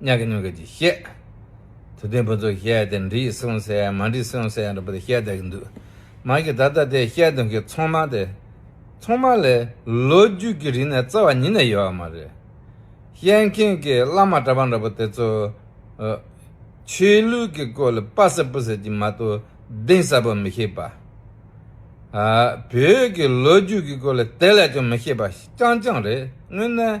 གཉགས་ཀྱི་སྣོད་ཀྱི་ཅེས་བཤད། དུ་ལྡན་ཕུན་ཚོགས་བཤད་དེ་འདྲི་གསུང་སེ་མ་འདྲི་གསུང་སེ་རེད་པ་དེ་བཤད་བསྡད་ཀྱི་འདུག་མ་གི་ད་ལྟ་དེ་བཤད་དོན་གྱི་ཚོང་དམག་དེ། ཚོང་དམག་ལས་ལོ་རྒྱུས་ཀྱི་རིག་གནས་རྩ་བ་ཉིད་ནས་ཡོད་བ་མ་རེད། བཤད་མཁན་གྱི་བླ་མ་གྲྭ་པ་འདྲ་པོ་དེ་ཚོ། ཆོས་ལུགས་ཀྱི་སྐོར་ལ་དཔའ་ཟབ་སྤུ་ཟབ་ཀྱི་མ་གཏོགས་གདེང་ཟབ་པོ་མི་ཤེས་པ། བོད་ཀྱི་ལོ་རྒྱུས་ཀྱི་སྐོར་ལ་དེ་ལས་ཀྱང་མི་ཤེས་པ་རྐྱང་རྐྱང་རེད་དངོས་གནས།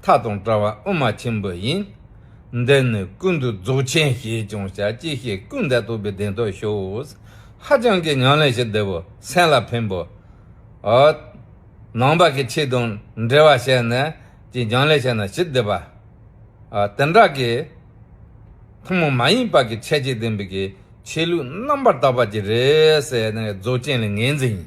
མཐའ་དང་བྲལ་བ་དབུ་མ་ཆེན་པོ་ཡིན། འདི་ནི་ཀུན་ཏུ་རྫོགས་ཆེན་ཞེས་ཀྱང་བྱ་ཅི་ཤེས་ཀུན་འདས་རྟོགས་པའི་གདེང་ཐོབ་ཤོས། ཧ་ཅང་གི་ཉམས་ལེན་ཞིག་འདི་བོ་སེམས་ལ་ཕན་པོ། ནང་པ་གི་ཆོས་དང་འབྲེལ་བ་བྱས་ནས་ཀྱི་ཉམས་ལེན་བྱས་ན་ཞིབ་བསྡུས་པ། དེ་འདྲ་གི། ཐུན་མོང་མ་ཡིན་པ་གི་ཁྱད་ཆོས་ལྡན་པའི་གི་ཆོས་ལུགས་རྣམ་པར་དག་པ་གྱི་རེད། རྫོགས་ཆེན་ལ་ངེས་འཛིན་ཡིན།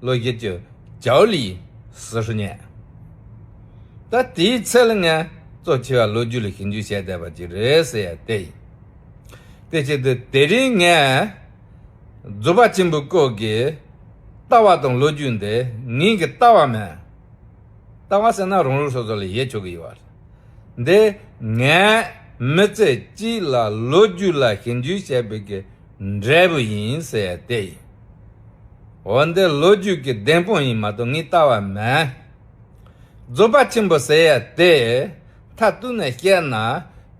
བློ་བསྐྱེད་ཀྱི་ལྗགས་ལུས་ཟུར་བསྙལ། ད་དེའི་ཚེལ་ངལ་གཙོ་ཆེ་བ་ལོ་རྒྱུས་ལ་ཞིབ་འཇུག་བྱས་བསྡད་པ་ཅིག་རེད་ཟེར་ཡ་དེ་ཡིན། དེ་ཕྱིར་དུ་དེ་རིང་ངས་རྫུ་བག་ཆེན་པོའི་སྐོར་གྱི་ལྟ་བ་དང་ལོ་རྒྱུས་འདི་ངིན་གྱི་ལྟ་བ་མིན། ལྟ་བ་ཟེར་ན་རང་ལུགས་སོ་སོ་ལ་ཡས་ཆོག་གི་ཡོད་རེད། འདི་ངས་མི་ཚེ་གཅིག་ལ་ལོ་རྒྱུས་ལ་ཞིབ་འཇུག་བྱས་པའི་གི་འབྲས་བུ་ཡིན་ཟེར་ཏེ། འོ་འདི་ལོ་རྒྱུས་ཀྱི་བདེན་དཔང་ཡིན་མ་གཏོགས་ངས་བལྟ་བ་མེད། རྫོགས་པ་ཆེན་པོ་ཟེར་ཡ་དེ་མཐའ་གཏུགས་ནས་བཤད་ན་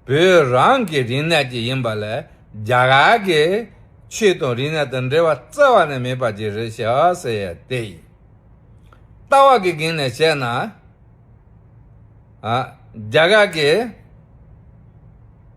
བོད་རང་གི་རིག་གནས་ཀྱི་ཡིན་པ་ལས་རྒྱ་གར་གྱི་ཆོས་དང་རིག་གནས་དང་འབྲེལ་བ་རྩ་བ་ནས་མེད་པ་ཅིག་རེད་ཤག་ཟེར་ཡ་དེ། ལྟ་བ་གི་སྒང་ནས་བཤད་ན། རྒྱ་གར་གྱི།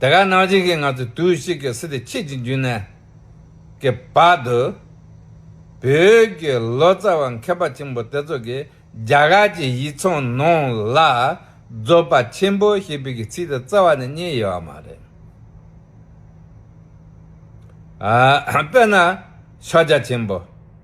དེ་ག་ནང་བཞིན་གྱི་ང་ཚོས་དུས་གཅིག་གི་སི་ཏི་ཁྱེད་ཀྱི་མཇུག་ནས་ཀྱི་བར་དུ། བོད་ཀྱི་ལོ་ཙཱ་བ་མཁས་པ་ཆེན་པོ་དེ་ཚོ་གིས་རྒྱ་གར་གྱི་ཡིག་ཚང་ནང་ལ་རྫོགས་པ་ཆེན་པོ་ཞེས་པའི་གི་ཚིག་དེ་རྩ་བ་ནས་རྙེད་ཡོད་བ་མ་རེད། དཔེར་ན་ཤཱཀྱ་ཆེན་པོ།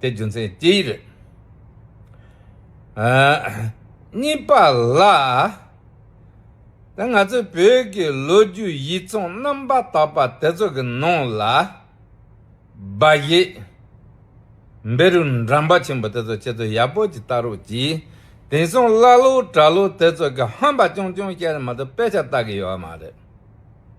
དེ་རྒྱུ་མཚན་དེ་རེད། གཉིས་པ་ལ། ང་ཚོའི་བོད་ཀྱི་ལོ་རྒྱུས་ཡིག་ཚང་རྣམ་པ་དག་པ་དེ་ཚོ་གི་ནང་ལ། སྦ་བཞེད། འབེ་རུ་འགྲམ་པ་ཆེན་པོ་དེ་ཚོ་ཁྱེད་ཚོ་ཡག་པོ་ཅིག་བལྟ་རོགས་གྱིས། དེང་སང་ཀླ་ཀློ་གྲྭ་ཀློ་དེ་ཚོ་གི་ཧམ་པ་ཅུང་ཅུང་བཤད་ནས་མ་གཏོགས་དཔེ་ཆ་བལྟ་གི་ཡོད་མ་རེད།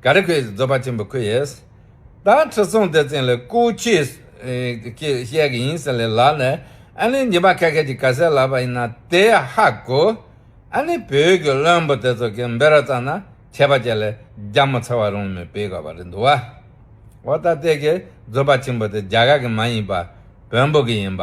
ག་རེ་ཁོད་ཡིས་རྫོགས་པ་ཆེན་པོ་ཁོད་ཡིས། ད་ཁྲི་སྲོང་ལྡེ་བཙན་ལས་སྐུ་ཁྱེད་ཀྱིས་བཤད་གི་ཡིན་ཟེར་ལས་ལགས་ནས་ཨ་ནི་ཉི་མ་ཁ་ཁད་ཀྱི་ག་ཟེར་ལབ་པ་ཡིན་ན་དེ་ཧ་གོ། ཨ་ནི་བོད་ཀྱི་བློན་པོ་དེ་ཚོ་གིས་འབེ་ར་བཙག་ན་ཁྱད་པ་ཅི་ལས་རྒྱ་མོ་ཚ་བ་རུང་མི་བེད་ག་བ་རེད་འདུག་བ། འོ་ད་ལྟས་ཀྱི་རྫོགས་པ་ཆེན་པོ་དེ་རྒྱ་གར་གི་མ་ཡིན་པ་བོན་པོ་གི་ཡིན་པ།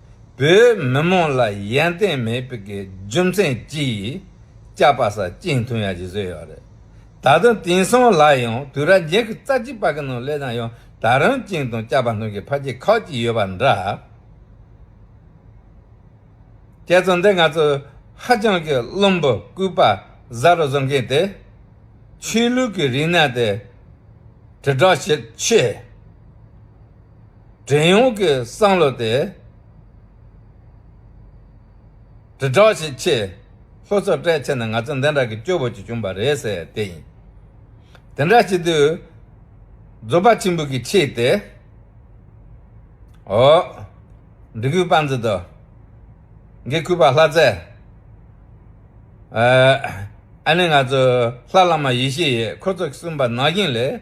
བོད་མི་མང་ལ་ཡན་ཏན་མེད་པའི་རྒྱུ་མཚན་གྱིས་བཅའ་པ་ས་གཅིག་མཐུན་ཡག་ཅིག་བཟོས་ཡོད་རེད། ད་དུང་དེང་སང་ལ་ཡང་དུས་ར་རྒྱལ་གྱི་རྩ་ཆེ་པ་གི་ནང་སླེབས་ན་ཡང་ད་རང་གཅིག་དང་བཅའ་པ་ནང་གི་ཕ་གཅིག་ཁག་གཅིག་ཡོད་པ་འདྲ། ཁྱེད་ཚོ་འདི་ང་ཚོའི་ཧ་ཅང་གི་བླུན་པོ་སྐུད་པ་བཟའ་རུ་བཟོ་མཁན་དེ། ཆོས་ལུགས་ཀྱི་རིག་གནས་དེ་དྲིལ་བསྒྲགས་བྱེད་ཆེད། བྲན་གཡོག་གི་བསམ་བློ་དེ་དྲིལ་བསྒྲགས་བྱེད་ཆེད་ལྷོ་ཕྱོགས་སྤྲད་ཆེ་ན་ང་ཚོ་འདི་འདྲ་གི་སྐྱོ་བོ་ཅིག་བྱུང་བ་རེད་ཟེར་དེ་ཡིན། དེ་འདྲ་བྱེད་དུས་རྫོ་པ་ཆེན་པོ་གི་ཆེད་དེ་འོ། འབྲི་གུའི་པང་ཙེ་དོ། འགའི་གུས་པ་ལྷ་རྩེ། ཨ་ནི་ང་ཚོ་ལྷ་བླ་མ་ཡེ་ཤེས་ཡིས་ཁོ་ཚོ་གསུམ་པ་ནག་ཞིང་ལས།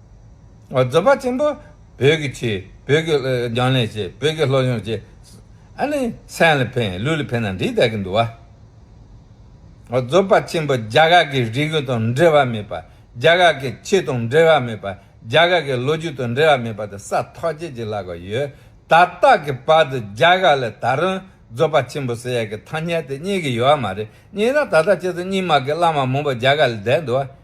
རྫོགས་པ་ཆེན་པོ་བོད་ཀྱི་ཆོས་བོད་ཀྱི་རྒྱང་ལས་བྱེད་བོད་ཀྱི་སློབ་སྦྱོང་བྱེད། ཨ་ནི་སེམས་ལ་ཕན་ལུས་ལ་ཕན་ན་འདི་ལྟ་གི་འདུག་བ། རྫོགས་པ་ཆེན་པོ་རྒྱ་གར་གྱི་རིག་གཞུང་དང་འབྲེལ་བ་མེད་པ་རྒྱ་གར་གྱི་ཆོས་དང་འབྲེལ་བ་མེད་པ་རྒྱ་གར་གྱི་ལོ་རྒྱུས་དང་འབྲེལ་བ་མེད་པ་དེ་ས་ཐོག་ཁྱེད་ཀྱི་ལག་པར་ཡོད། ད་ལྟ་གི་བར་དུ་རྒྱ་གར་ལ་ད་རུང་རྫོགས་པ་ཆེན་པོ་ཟེར་ཡག་གི་ཐ་སྙད་དེ་རྙེད་གི་ཡོད་བ་མ་རེད་རྙེད་ན་ད་ལྟ་ཁྱེད་ཚོ་རྙིང་མ་གི་བླ་མ་མང་པོ་རྒྱ་གར་ལ་བསྡད་འདུག་བ།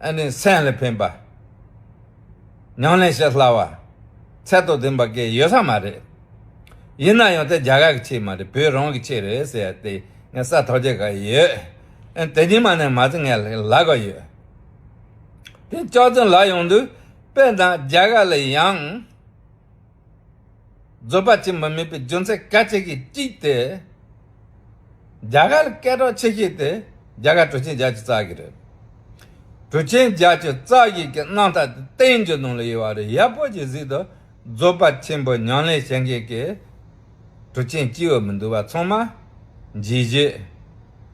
ཨ་ནི་སེམས་ལ་ཕན་པ། མྱང་ལས་བྱེད་སླ་བ། ཚད་དང་ལྡན་པ་སྐད་ཡོད་ས་མ་རེད། ཡིན་ན་ཡང་དེ་རྒྱ་གར་གྱི་ཆེད་མ་རེད་བོད་རང་གི་ཆེད་རེད་ཟེར་ཡ་དེ་ངས་ས་ཐོག་རྒྱག་ག་ཡོད། དེ་ཉིན་མ་ནས་མ་ཚེ་ངས་ལ་ག་ཡོད། དེ་ལྕགས་ཚོན་ལ་ཡོང་དུས་དཔེ་དང་རྒྱ་གར་ལ་ཡང། རྫོད་པ་གཅིག་མ་མེད་པའི་རྒྱུ་མཚན་ག་ཅིག་གིས་དཀྲིས་ཏེ། རྒྱ་གར་སྐད་གྲགས་ཆེ་ཤོས་དེ་རྒྱ་གར་གྲུ་ཆེན་རྒྱ་ཆེ་ཙག་གི་རེད། གྲུ་ཆེན་རྒྱ་ཆེ་ཙག་གི་གི་སྣང་ཐ་དེ་བསྟན་འགྱུར་ནང་ལ་ཡོད་པ་རེད་ཡག་པོ་གྱིས་གཟིགས་དང་རྫོད་པ་ཆེན་པོ་ཉང་ལེ་ཞེན་གེ་གི་གྲུ་ཆེན་སྐྱིད་འོད་མི་འདུག་བ་ཚང་མ་འཇིགས་བྱེད།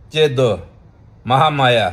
སྐྱེ་རྡོ། མ་ཧ་མ་ཡ།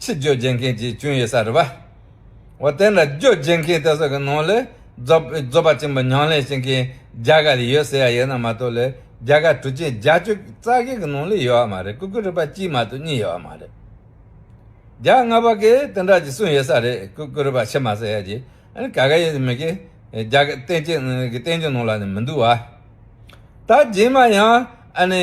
ཕྱིར་རྗོད་བྱེད་མཁན་གྱི་སྐྱོན་ཡོད་ས་རེད། འོ་དེ་འདྲ་རྗོད་བྱེད་མཁན་དེ་ཚོ་གི་ནང་ལས་རྫོབ་པ་ཆེན་པོ་ཉང་ལས་ཤིང་གི་རྒྱ་གར་ལས་ཡོད་ཟེར་ཡ་ཡོད་ན་མ་གཏོགས་ལས་རྒྱ་གར་གྲུ་ཆེན་བརྒྱ་བཅུ་རྩ་བརྒྱད་གི་ནང་ལས་ཡོད་མ་རེད་ཀུ་ཀུ་རི་པ་གཅིག་མ་གཏོགས་གཉིས་ཡོད་མ་རེད། རྒྱ་དངོས་པ་གི་དེ་འདྲ་གི་གསུངས་ཡོད་ས་རེད་ཀུ་ཀུ་རི་པ་ཕྱི་མ་ཟེར་ཡ་གྱི་ཨ་ཀ་ཀ་ཡོད་ནི་མི་གི་རྒྱ་གར་བསྟན་བྱའི་ནང་ལ་ནི་མི་འདུག་བ། ད་རྗེས་མ་ཡང་ཨ་ནི།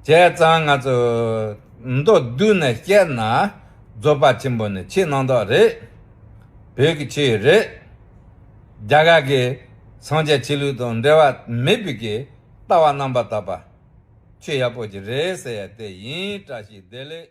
བྱས་ཙང་ང་ཚོ་མདོར་བསྡུས་ནས་བཤད་ན་རྫོགས་པ་ཆེན་པོ་ནི་ཕྱི་ནང་དག་རེད། བོད་ཀྱི་ཆོས་རེད། རྒྱ་གར་གྱི་སངས་རྒྱས་ཆོས་ལུགས་དང་འབྲེལ་བ་མེད་པའི་གི་ལྟ་བ་རྣམ་པར་དག་པ། ཆོས་ཡག་པོ་ཞིག་རེད་ཟེར་ཡ་དེ་ཡིན་དྲགས་ཤིག་བདེ་ལེགས།